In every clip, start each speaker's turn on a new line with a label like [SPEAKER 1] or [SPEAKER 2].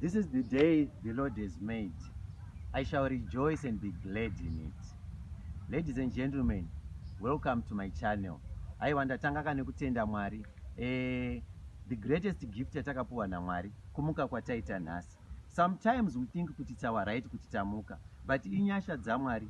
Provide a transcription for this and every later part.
[SPEAKER 1] This is the day the Lord has made. I shall rejoice and be glad in it. Ladies and gentlemen, welcome to my channel. Aiwa ndatanga kane kutenda Mwari. Eh, the greatest gift yatakapuwa naMwari kumuka kwataita nhasi. Sometimes we think kuti it's our right kuti tamuka, but inyasha dzaMwari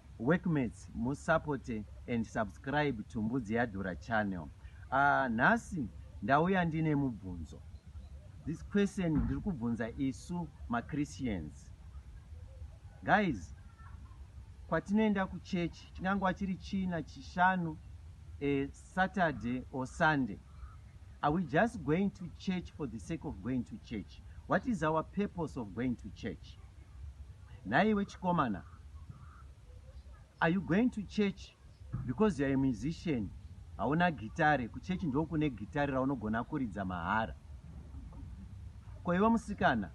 [SPEAKER 1] Workmates mu supporte and subscribe to Mbudzi Yadhura channel. Ahh nhasi ndauya ndine mubvunzo. This question ndiri kubvunza isu ma Christians. Guys kwatinoenda ku church chingangova chiri China, Chishanu, a Saturday or Sunday. Are we just going to church for the sake of going to church? What is our purpose of going to church? Nhaiwe chikomana. Are you going to church because you're a musician hauna gitare kuchurch ndokune gitare raunogona kuridza mahara ko iwe musikana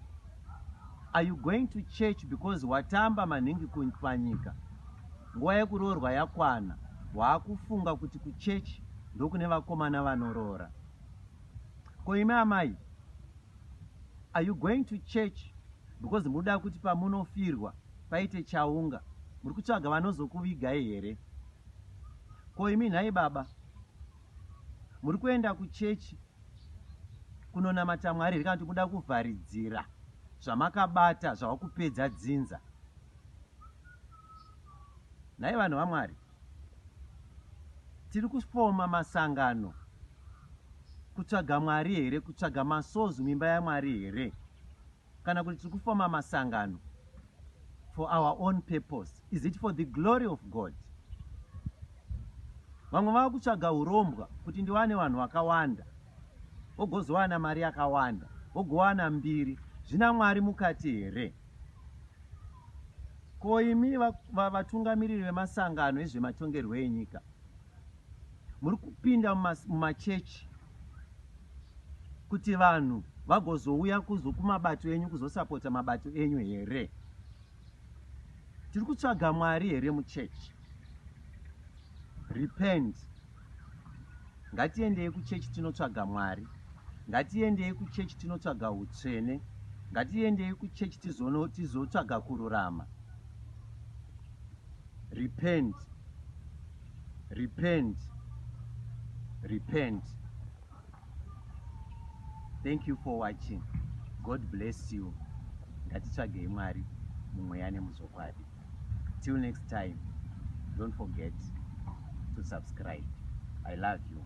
[SPEAKER 1] are you going to church because watamba manhingi panyika nguva yekuroorwa yakwana waakufunga kuti kuchurch ndokune vakomana vanoroora ko imi amai are you going to church because muda kuti pamunofirwa paite chaunga muri kutsvaga vanozokuvigai here ko imi nhai baba muri kuenda kuchechi kunonamata mwari here kana kuti muda kuvharidzira zvamakabata zvava kupedza dzinza nhai vanhu vamwari tiri kufoma masangano kutsvaga mwari here kutsvaga masozi mimba yamwari here kana kuti tiri kufoma masangano for our own purpose is it for the glory of god vamwe vava kutsvaga urombwa kuti ndiwane vanhu vakawanda wogozowana mari yakawanda wogowana mbiri zvina mwari mukati here ko imi vatungamiriri vemasangano ezvematongerwo enyika muri kupinda mumachechi kuti vanhu vagozouya kuzo kumabato enyu kuzosapota mabato enyu here tiri kutsvaga mwari here muchechi repent ngatiendei kuchechi tinotsvaga mwari ngatiendei kuchechi tinotsvaga utsvene ngatiendei kuchechi tizotsvaga kururama Repent. Repent. Repent. Thank you for watching. God bless you. Ngatitsvagei Mwari mumweya nemuzokwadi. Till next time, don't forget to subscribe. I love you.